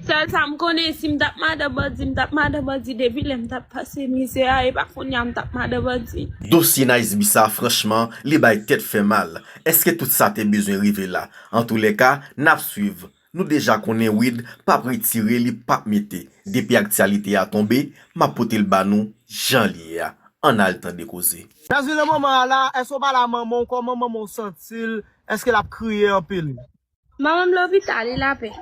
Sèl sa m konnen si m tap madan bandi m tap madan bandi depi lè m tap pase mizè a epa kounya m tap madan bandi. Dosye Naisby sa franchman li bay tèt fè mal, eske tout sa te bezwen rive la, antoulèka nap swiv, nou deja konnen Wid pap retire li pap mete, depi aktyalite a tonbe map potel ba nou jan l ye a, ann al tande koze. Jazmine nan moman an la, èske w pale a manman w kòman manman w santi l, èske lap kriye anpil? Manman m lopital li lapè.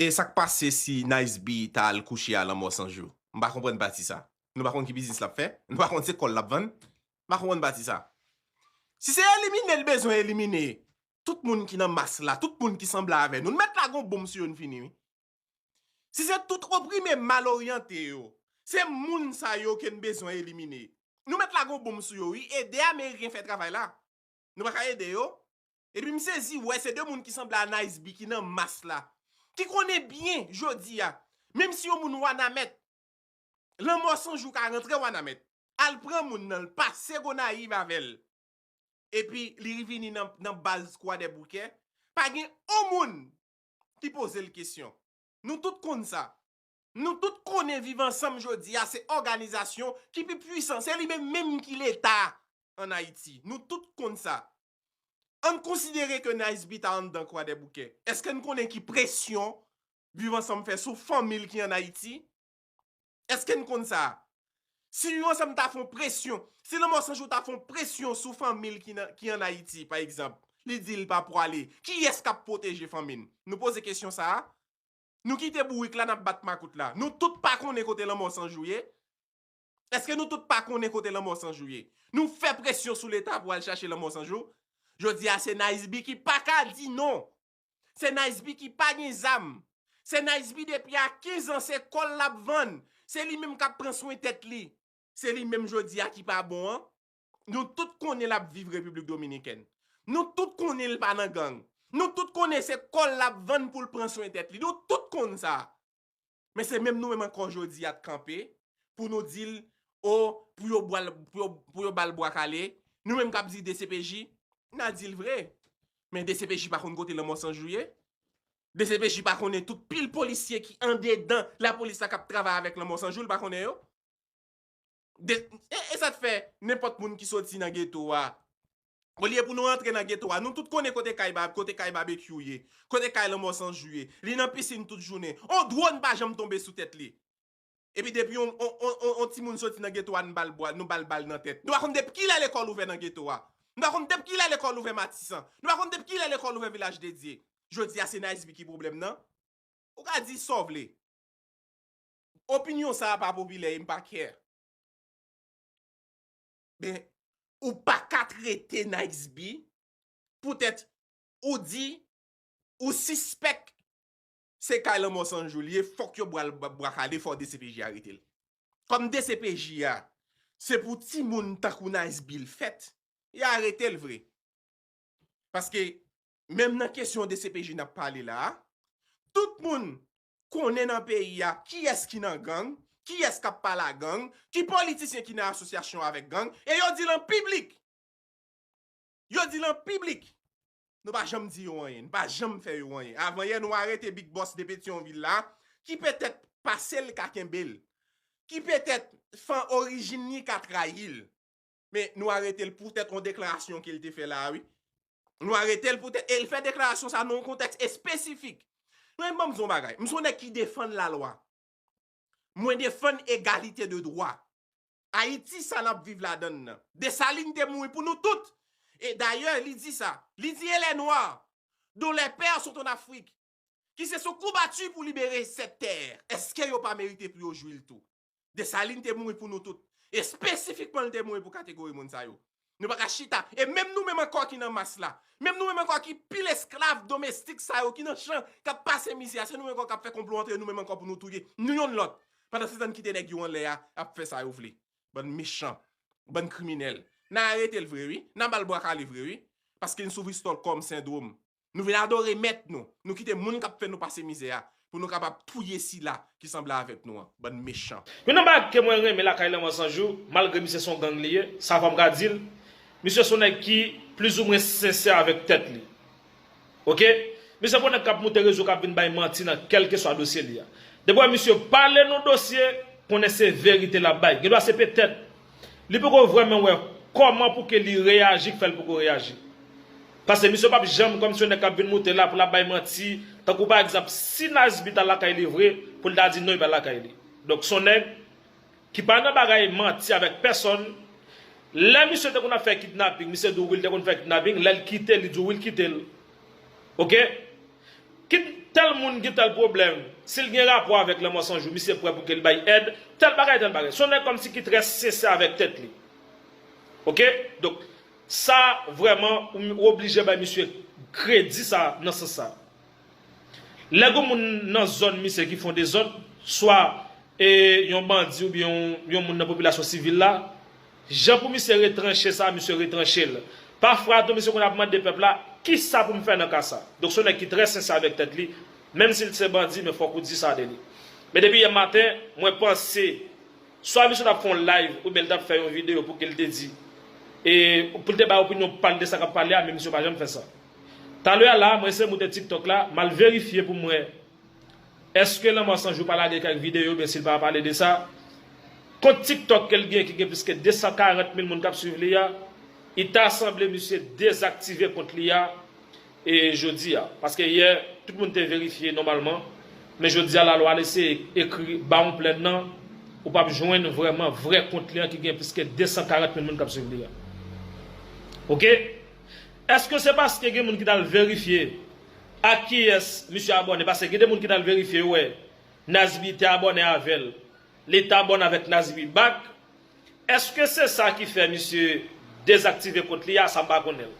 E sak pase si Nice B ta al kouche a lanmò san jou? M pa konprann pati sa. Nou pa konn ki biznis lap fè? Nou pa konn se kòl lap vann? M pa konprann pati sa. Si se elimine l bezwen elimine tout moun ki nan mas la, tout moun ki sanble avè nou, l mèt lage yon bonm sou yo n fini wi. Si se tout oprime mal oryante yo, se moun sa yo ke n bezwen elimine. Nou mèt lage yon bonm sou yo wi. Ede ameriken fè travay la. Nou pa ka ede yo? Epi m sezi wè se 2 moun ki sanble a Nice-B ki nan mas la. Ki konnen byen jodi a, menm si yon moun Wanament, lanmò san jou ka rantre Wanament, al pran moun nan, l pase Gonayiv avè l, epi li rvini nan baz Kwadèboukè, pa gen on moun ki poze l kesyon. Nou tout konn sa. Nou tout konnen Viv Ansanm jodi a se òganizasyon ki pi pwisan. Se li menm menm ki Leta an Ayiti. Nou tout konn sa. An n konsidere ke Niceby ta anndan Kwadèboukè. Èske n konnen ki presyon Viv Ansanm fè sou fanmi l ki ann Ayiti? Èske n konn sa? Si Viv Ansanm ta fè yon presyon, si Lanmò San Jou ta fè yon presyon sou fanmi l ki ann Ayiti, pa egzanp, li di l pa pwale, kiyès k ap pwoteje fanmi n? Nou poze kesyon sa a? Nou kite bourik la, n ap bat makout la. Nou tout pa konnen kote Lanmò San Jou ye? Eske nou tout pa konnen kote lanmò san jou ye? Nou fè presyon sou leta pou al chache lanmò san jou? Jodi a se Nice B ki pa ka di non! Se Nice B ki pa gen zam! Se Nice B depi a 15 an se kòl lap vann! Se li menm kap pran swen tèt li! Se li menm jodi a ki pa bon an! Nou tout konnen lap viv Repiblik Dominikèn! Nou tout konnen li pa nan gang! Nou tout konnen se kòl lap vann poul pran swen tèt li! Nou tout konn sa! Men se menm nou menm ankò jodi a t kanpe pou nou di l oh pou yo bwa l pou yo ba l bwa kale, nou menm k ap di dcpj, n a di l vre men dcpj pa konn kote lanmò san jou ye, dcpj pa konnen tout pil polisye ki andedan lapolis la k ap travay avèk lanmò san jou l pa konnen yo. E sa k fè nenpòt moun ki soti nan geto a, olye pou nou antre nan geto a, nou tout konnen kote kay Babekyou ye, kote kay Lanmò San Jou ye, li nan pisin tout jounen, on dwòn pa janm tonbe sou tèt li. Epi depi on timoun soti nan geto a nou ba l bwa, nou ba l bal nan tèt. Nou pa konn depi kilè lekòl ouvè nan geto a. Nou pa konn depi kilè lekòl ouvè Matisan. Nou pa konn depi kilè lekòl ouvè Vilaj Dedye. Jodi a se Nice-B ki pwoblèm nan? Ou ka di sa w vle. Opinyon sa a pa popilè e m pa care. Men, ou pa ka trete Niceby poutèt ou di ou sispèk se kay lanmò san jou li ye, fòk yo bwal bwa kale, fòk dcpj arete l. Kòm dcpj a, se pou timoun tankou Niceby l fèt, y a arete l vre. Paske, menm nan kesyon dcpj n ap pale la a, tout moun konnen nan peyi a kiyès ki nan gang, kiyès k ap pale a gang, ki politisyen ki nan asosyasyon avèk gang, e yo di l an piblik! Yo di l an piblik! Nou pa janm di yo anyen, nou pa janm fè yo anyen. Avanyè nou arete Big Boss de Petyonvil la, ki petèt pase l ka kenbe l, ki petèt fan orijin li ka trayi l. Men nou arete l pou tèt yon deklarasyon ke l te fè la a wi. Nou arete l pou tèt, e l fè deklarasyon sa a nan yon kontèks espesifik. Men ban m di w yon bagay, m se yon nèg ki defann lalwa. Mwen defann egalite de dwa. Ayiti sa n ap viv ladan l lan. Desalin te mouri pou nou tout. E dayè li di sa, li di e lè nwa, don lè pè sot an Afrik, ki se sou kou bati pou libere sèt tè, èske yo pa merite pou yo jwi l tou? Desalin te mouri pou nou tout. Espesifikman li te mouri pou kategori moun sa yo. Nou pa ka chita. E menm nou menm ankò ki nan mas la. Menm nou menm ankò ki pil esklav domestik sa yo ki nan chan k ap pase mizè a. Se nou menm ankò k ap fè konplo antre nou menm ankò pou nou touye nou yonn lòt. Pandansetan n kite nèg yo anlè a ap fè sa yo vle. Bann mechan. Bann kriminèl. N a arete l vre wi. N a ba l bwa kale vre wi. Paske n soufri Stòlkòm sendwom. Nou vin adore mèt nou. Nou kite moun k ap fè nou pase mizè a pou nou kapab touye sila ki sanble avèk nou an. Bann mechan! Youn nan bagy ke mwen renmen lakay Lanmò San Jou, malgre misye son gang li ye, sa fòm ka dil, misye son nèg ki plus ou mwen sensè avèk tèt li. Ok. Misye pran nèg kap moute rezo kap vin bay manti nan kelkeswa dosye li a. Depi wè misye pale nou dosye, konnen se verite lap bay. Gendwa se petèt. Li poko vrèmen wè Koman pouki li reyaji k fèl poko reyaji. Pase misye pap janm kòm si yon nèg kap vin moute la poul ap bay manti tankou pa egzanp si Nazby tal lakay li vre poul ta di non li pa lakay li. Donk son nèg Ki pa nan bagay manti avèk pèsòn lè misye te konn ap fè kidnaping misye di w wi li te konn fè kidnaping lèl kite li di w wi l kitel ok. Kit tèl moun gen tèl pwoblèm, si l gen rapò avèk lanmò san jou, misye prè pou ke li bay èd, tèl bagay, tèl bagay. Se yon nèg kòmsi ki trè sensè avèk tèt li. Ok? Donk, sa vrèman, ou oblije bay misye kredi sa nan sans sa. Lè gen yon moun nan zòn misye ki fè yon dezòd, swa yon bandi oubyen yon moun nan popilasyon sivil la, Jan pou misye retranche sa misye retranche l. Pa fwa tou misye konn ap mande pèp la kisa pou m fè nan ka sa. Donk se yon nèg ki trè sensè avèk tèt li, menm si l t se bandi men fòk ou di sa de li. Men depi yè maten mwen panse swa misye t ap fè yon live oubyen l t ap fè yon video pou ki l te di e pou l te bay opinyon pa l de sa k ap pale a men misye pa janm fè sa. Talè a la mwen ese moute tiktok la m al verifye pou m wè Eske lanmò san jou pa lage kèk videyo byen sil pa pale de sa? Kont tiktok kel gen ki gen plis ke 240 mil moun kap swiv li a, i ta sanble misye dezaktive kont li a e jodi a. Paske yè tout moun te verifye nòmalman, men jodi a lalwa al eseye ekri bawon plèn nan, ou pap jwenn vrèman vrè kont li an ki gen plis ke 240 mil moun kap swiv li a. Ok. Eske se paske gen moun ki tal verifye? Ak kiyès misye abòne paske gen de moun ki tal verifye yo wè Nazby te abòne avèl li t abòne avèk Nazby back eske se sa ki fè misye dezaktive kont li a sa m pa konnenl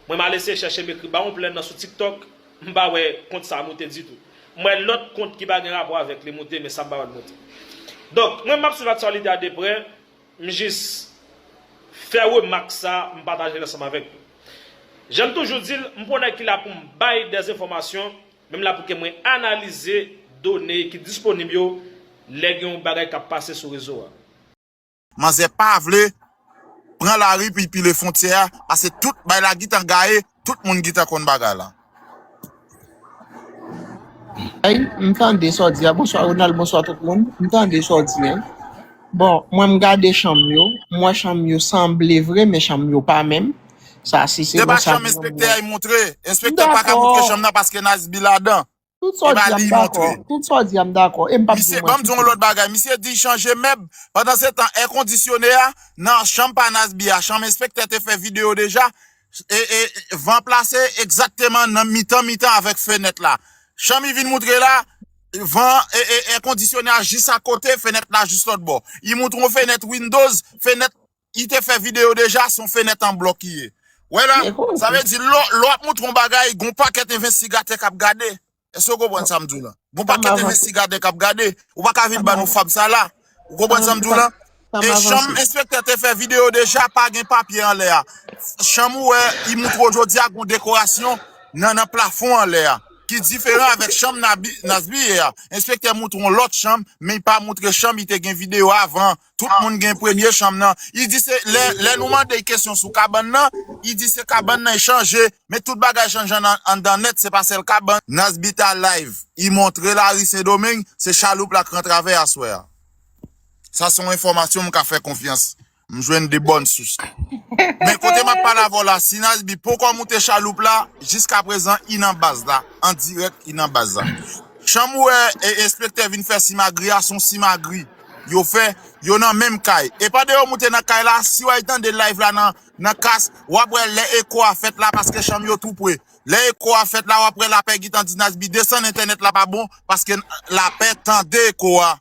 mwen m al eseye chèche m ekri ba on plè nan sou tiktok m pa wè kont sa moute ditou m wè lòt kont ki pa gen rapò avèk li moute men sa m pa wèl moute donk mwen m ap swiv aktyalite a de prè. M jis fè remak sa m pataje l ansanm avèk nou. Jan m toujou di l, m pran nèg ki la pou m bay dè enfòmasyon, men m la pou ke mwen analize done ki disponib yo lè gen yon bagay k ap pase sou rezo a. Manzè pa vle pran lari pou y pile fontyè a pase tout bay lagit an gaye Tout moun gintan konn bagay la. Ey m tande sa w di a bonswa Ronald bonswa tout moun m tande sa w di a bon mwen m gade chanm yo m wè chanm yo sanble vre men chanm yo pa menm sa si se Se pa bon sa chanm m enspektè a y moutre. Enspektè paka moutre dakò chanm nan paske Nice B ladan. Tout sa w di a m dakò. Tout sa w di a m dakò. E m pa p di w manti. Misye, ban m di w yon lòt bagay. Misye di chanje mèb. Pandan se tan, èkondisyone a nan chanm pa Nasby a, chanm enspektè te fè videyo deja, e, e, van plase egzakteman nan mitan mitan avèk fenèt la. Chanm i vin moutre la, van, e, e, èkondisyone a jis akote, fenèt la jis lòtbò. I moutre yon fenèt windows, fenèt. Li te fè video deja, son fenèt an blòk li ye. Wè la, sa vle di lè w ap montre yon bagay, gen yon pakèt envestigatè k ap gade. Èske ou konprann sa m di w la? Gen yon pakèt envestigatè k ap gade. Ou pa ka vin ba nou fab sa la. Ou konprann sa m di w la? E chanm enspektè te fè video deja, pa gen papye anlè a. Chanm ou wè, li montre w jodi a gen yon dekorasyon nan plafon anlè a, ki diferan avèk chanm Nazmi ye a. Enspektè montre w lòt chanm, men li pa montre chanm li te gen video avan Tout moun gen premye chanm nan. Li di se, lè nou mande l kesyon sou kabann nan, li di se kabann nan e chanje, men tout bagay chanje anndan nèt, se pa sèl kabann. Nazbita Live, I montre lari Sendomeng, se chaloup la k ran travè aswè a. Sa se yon enfòmasyon m ka fè konfyans. M jwenn de bòn sous. Men kote m ap pale avè w la, si Nazbi ponkò moute chaloup la, jiska prezan I nan baz la, an dirèk I nan baz la. Jan m wè enspektè vin fè simagri a, se yon simagri. Yo fè Yo nan menm kay. Epa de yo moute nan kay la siw al tande live la nan kas wap wè lè eko a fèt la paske chanm yo tou pre lè eko a fèt la wap wè lapè gintan di Nasby desann entènèt la pa bon paske lapè tande eko a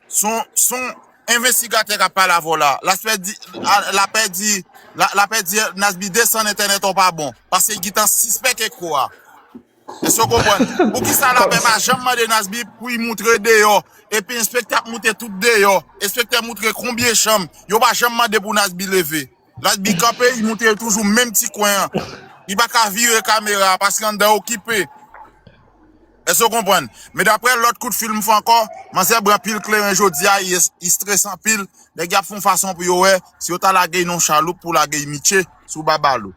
son son envestigatè kap pale avèw la laspè di lapè di lapè di Nasby desann entènèt ou pa bon paske gintan sispèk eko a. Èske w konprann? Poukisa lapè pa janm mande Nasby pou y moutre deyò? Epi enspektè ap moute tout deyò. Enspektè moutre konbyen chanm. Yo pa janm mande pou Nasby leve. Nasby kanpe, li moutre toujou menm ti kwen an. Li pa ka vire kamera a paske anndan okipe. Èske w konprann? Men daprè lòt kout fil m fè ankò, manzè bran pil kleren jodi a, yès, li strese anpil. Nèg y ap fè yon fason pou yo wè si yo ta lage y nan yon chaloup pou lage y Mitshe sou Babalou.